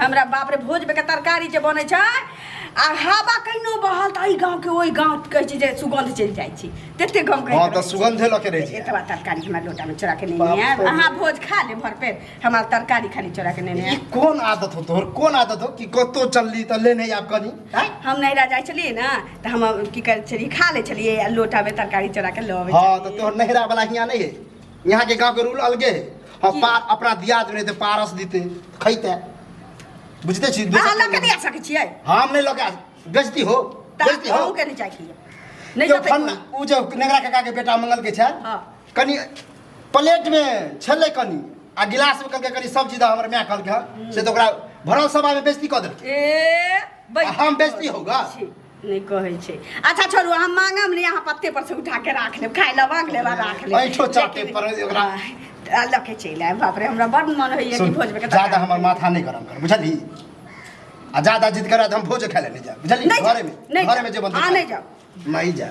हमरा बाप रे भोज के तरकारी जे बनै छै आ हवा कहिनो बहल तऽ एहि गाँवके ओहि गाँव कहै छै जे सुगंध चलि जाइ छै तते गाँव कहैत हँ, रहै तऽ छै। सुगंधे लऽ के रहै छै। एतबा तरकारी हमरा लोटामे चोरा के बाप नेने आयब रे। अहाँ भोज खा ले भर पेट हमरा तरकारी खाली चोरा के नेने ई आयब कोन आदत हो तोहर कोन आदत हो कि कतौ चलली तऽ लेने आब कनी हैं? हम नैरा जाइ छलियै ने तऽ हम की करै छलियै खा लै छलियै आ लोटामे तरकारी चोरा के लऽ अबै हँ तऽ छलियै। तोहर नहरा वाला हियाँ नहि है यहाँ के गांव के रूल अलगे है हम की? पार अपना दिया देने ते पारस दीते खैते बुझते छी अहाँ लऽ कऽ नहि आ सकै छियै हम नहीं लगा बेजती हो तऽ बेजती हो अहूँके नहि चाही नहि जो जतै फन्ना उ जो नेगरा काका के बेटा मंगल के छल हाँ। कनी प्लेट में छले कनी आ गिलास में कहलके कनी सब्जी दा हमर माय कहलके हँ, से तो ओकरा भरल सभा में बेजती क देलके ए बैठ हम बेजती होगा छी। नहि कहै छै अच्छा छोड़ू अहाँ मांगब नहि अहाँ पत्ते पर से उठा के राख लेब खाय लए मांग लेब आ राख लेब ऐठो चाटे पर ओकरा आ, लऽ के चलि आयब बाप रे हमरा बड मन होइए कि सुन, भोज में ज्यादा हमर माथा नहीं गरम कर बुझली आ ज्यादा जिद करा तो हम भोज खाए ले नहीं जा बुझली नहीं घरे में जाओ, नहीं घरे जाओ। में जे बनते हाँ, खा। नहीं जाओ। नहीं जा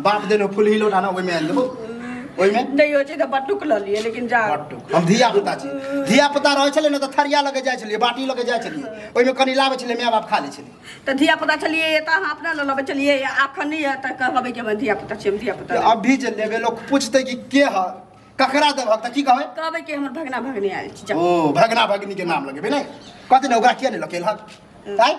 बाप देने फुलही लोटा ना ओहिमे आयल देबो ओहिमे नहि होइ छै तऽ बटुक लऽ लिए लेकिन जा हम धिया पुता छी धिया पुता रहै छलै ने तऽ थरिया लगे जाइ छलियै बाटी लगे जाइ छलियै ओहिमे कनि लाबै छलियै माय बाप खा लै छलियै तऽ धिया पुता छलियै तऽ अहाँ अपना लऽ लबै छलियै आखन नहि यऽ तऽ कहबै कि धिया पुता छी हम धिया पुता अभी जे लेबै लोक पूछतै कि के है ककरा देबह तऽ की कहबै कहबै कि हमर भगना भगनी आयल छी ओ भगना भगनी के नाम लगेबै ने कहतै ने ओकरा किया नहि लकेलहक आँय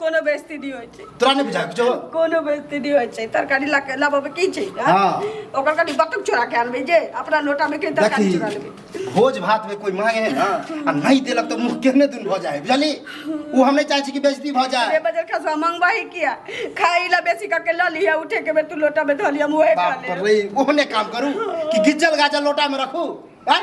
कोनो बेइज्जती नहीं होय छै तोरा नहीं बुझा कुछो कोनो बेइज्जती नहीं होय छै तरकारी ला के लाबो की छै हां ओकर कनी बतुक चोरा के आनबे जे अपना लोटा में के तरकारी चोरा लेबे भोज भात में कोई मांगे है ना आ नहीं देलक तो मुंह केहने दिन भ जाए बुझली वो हम नहीं चाहे छी कि बेइज्जती भ जाए ए बजर खसवा मंगवा ही किया खाई ला बेसी का के ला लिया उठे के बे तू लोटा में धलिया मुहे खा ले बाप रे ओहने काम करू कि गिज्जल गाजल लोटा में रखू हैं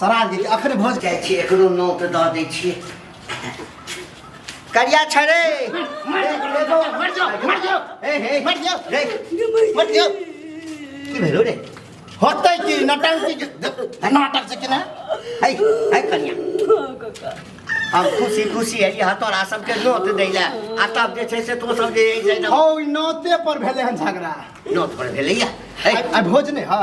सरा दै छियै अखन भोज जाइ छियै एकरो नोट दऽ दै छियै करिया छड़े मर जाओ मर जाओ हे हे मर जाओ रे मर जाओ की भेलो रे होतै की नटंकी के- नाटक से कि ना है है कनिया हम खुशी खुशी है यहाँ तोरा सबके नोट दै लए आ तब जे छै से तो सब जे है से हौ ई नोते पर भेलै हन झगड़ा नोट पर भेलैया है आ भोज नहि हँ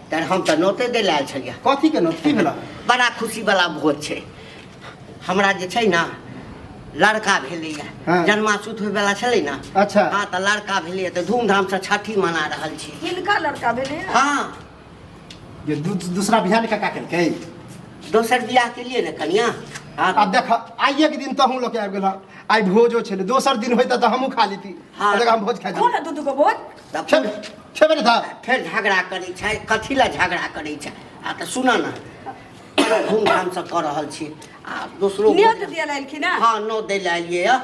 तर हम तऽ नोते दै लए आयल छलियै कथी के नोत की भेला बड़ा खुशी वाला भोज छै हमरा जे छै ने लड़का भेलैया हाँ। जन्मासूत होय वाला छलै ने अच्छा हाँ तऽ लड़का भेलैया तऽ धूमधाम से छठी मना रहल छी किनका लड़का भेलै हाँ ये दू, दूसरा बिहान का का केलकै दोसर बियाह के लिए ने कनिया हाँ अब देख आइए के दिन तहूँ लोग आबि गेल आइ भोजो छलै दोसर दिन होइता तऽ हमहूँ खा लेती हाँ। आ देख हम भोज खा खो ना दू दू गो बोल तब छेबे छेबे नहीं था फेर झगड़ा करै छै कथी लए झगड़ा करै छै आ तऽ सुनऽ ने बड़ा धूमधामसँ कऽ रहल छी आ दोसरो नियत भोजन- दिया लायलखिन हँ हाँ नौ दै लए एलियै यऽ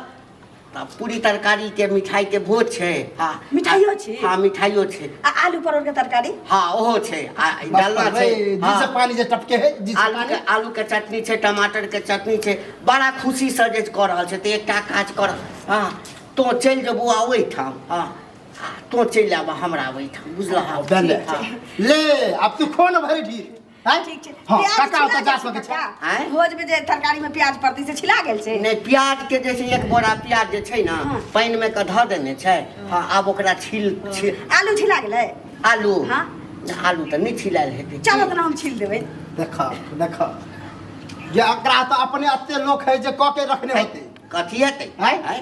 तऽ पूरी तरकारीके मिठाइके भोज छै हाँ मिठाइयो छै? हाँ मिठाइयो छै आ आलू परोर के तरकारी हाँ ओहो छै आ ई बस डालना छै भाई, जिससे हाँ। पानी से टपके है जिससे आलू पानी के आलू के चटनी छै टमाटर के चटनी छै बड़ा खुशी से जे कऽ रहल छै तऽ एकटा काज कर हाँ तो चलि जेबौ आ ओहिठाम हाँ आ तो चलि आबऽ हमरा ओहिठाम बुझलह अब दे ले ले अब तू खो न भरि ढीर हैं? ठीक छै हाँ, प्याज काका छिला ओतऽ जा गेल सकै छै काका? आँय? भोज में जे तरकारी में प्याज पड़ती से छिला गेल छै नहि प्याज के जे छै एक बोरा प्याज जे छै ने हाँ। पानि मे के धऽ देने छै हाँ आब ओकरा छील छील आलू छिला गेलै आलू हाँ। आलू तऽ नहि छिलायल हेतै चलो तना हम छील देबै देख देख जे एकरा तऽ अपने एते लोक है जे कऽ के रखने होते कथी हेतै आँय? आँय?